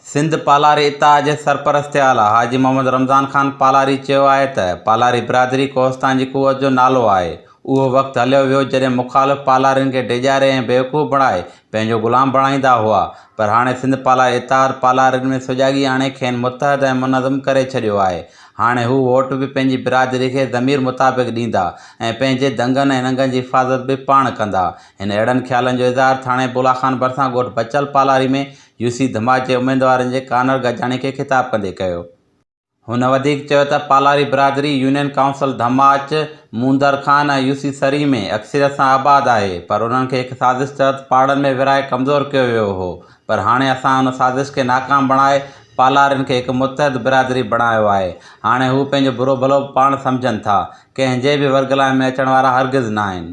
سنڌ پالاري اتحاد جي سرپرست اعليٰ حاجي محمد رمضان خان پالاري چيو آهي ته پالاري برادري ڪوهستان جي قوت جو نالو آهي، اهو وقت هليو ويو جڏهن مخالف پالارين کي ڊيڄاري ۽ بيوقوف بڻائي پنهنجو غلام بڻائيندا هئا پر هاڻي سنڌ پالاري اتحاد پالارين ۾ سجاڳي آڻي کين متحد ۽ منظم ڪري ڇڏيو آهي، هاڻي هو ووٽ به پنهنجي برادري کي ضمير مطابق ڏيندا ۽ پنهنجي دنگن ۽ ننگن جي حفاظت به پاڻ ڪندا، هن اهڙن خيالن جو اظهار ٿاڻي بولا خان ڀرسان ڳوٺ بچل پالاري ۾ يو سي ڌماج جي اميدوارن جي ڪانر گڏجاڻي کي خطاب ڪندي ڪيو. هن وڌيڪ چيو ته پالاري برادري union council Dhamaj, Mondar Khan ۽ U C Sari ۾ اڪثريت سان آباد آهي پر انهن کي هڪ سازش تحت پاڙن ۾ ورهائي ڪمزور ڪيو ويو هو پر هاڻي اسان ان سازش کي ناڪام بڻائي پالارين کي هڪ متحد برادري بڻايو آهي هاڻي هو پنهنجو برو ڀلو به پاڻ سمجهن ٿا ڪنهن جي به ورگلائي ۾ اچڻ وارا هرگز ناهن.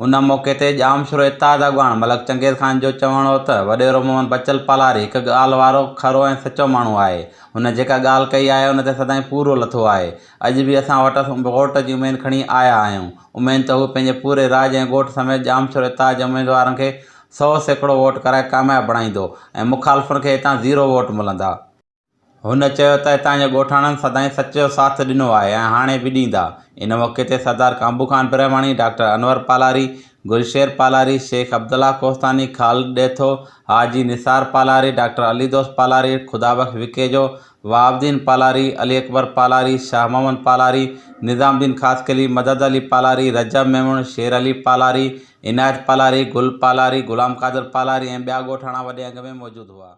ان موقعي تي ڄام شورو اتحاد اڳواڻ ملڪ چنگيز خان جو چوڻ هو ته وڏيرو محمد بچل پالاري هڪ ڳالهه وارو کرو ۽ سچو ماڻهو آهي. هن جيڪا ڳالهه ڪئي آهي ان تي سدائين پورو لٿو آهي. اڄ به اسان وٽس ووٽ جي اميد کڻي آيا آهيون. اميد ته هو پنهنجي پوري راڄ ۽ ڳوٺ سميت ڄام شورو اتحاد جي اميدوارن کي سؤ سيڪڙو ووٽ ڪرائي ڪامياب بڻائيندو ۽ مخالفن کي هتان زيرو ووٽ ملندا. هن چيو ته هتان جي ڳوٺاڻن سدائين سچ جو ساٿ ڏنو آهي ۽ هاڻي به ڏيندا. ان موقعي تي سردار ڪامبو خان برهماڻي، ڊاڪٽر انور پالاري، گل شير پالاري، شيخ عبدالله ڪوهستاني، خالد ڏيٿو، حاجي نثار پالاري، ڊاڪٽر علي دوست پالاري، خدا بخش وکيجو، وهاب الدين پالاري، علي اڪبر پالاري، شاهه محمد پالاري، نظام الدين خاصخيلي، مدد علي پالاري، رجب ميمڻ، شير علي پالاري، عنايت پالاري، گل پالاري، غلام قادر پالاري ۽ ٻيا ڳوٺاڻا وڏي انگ ۾ موجود هئا.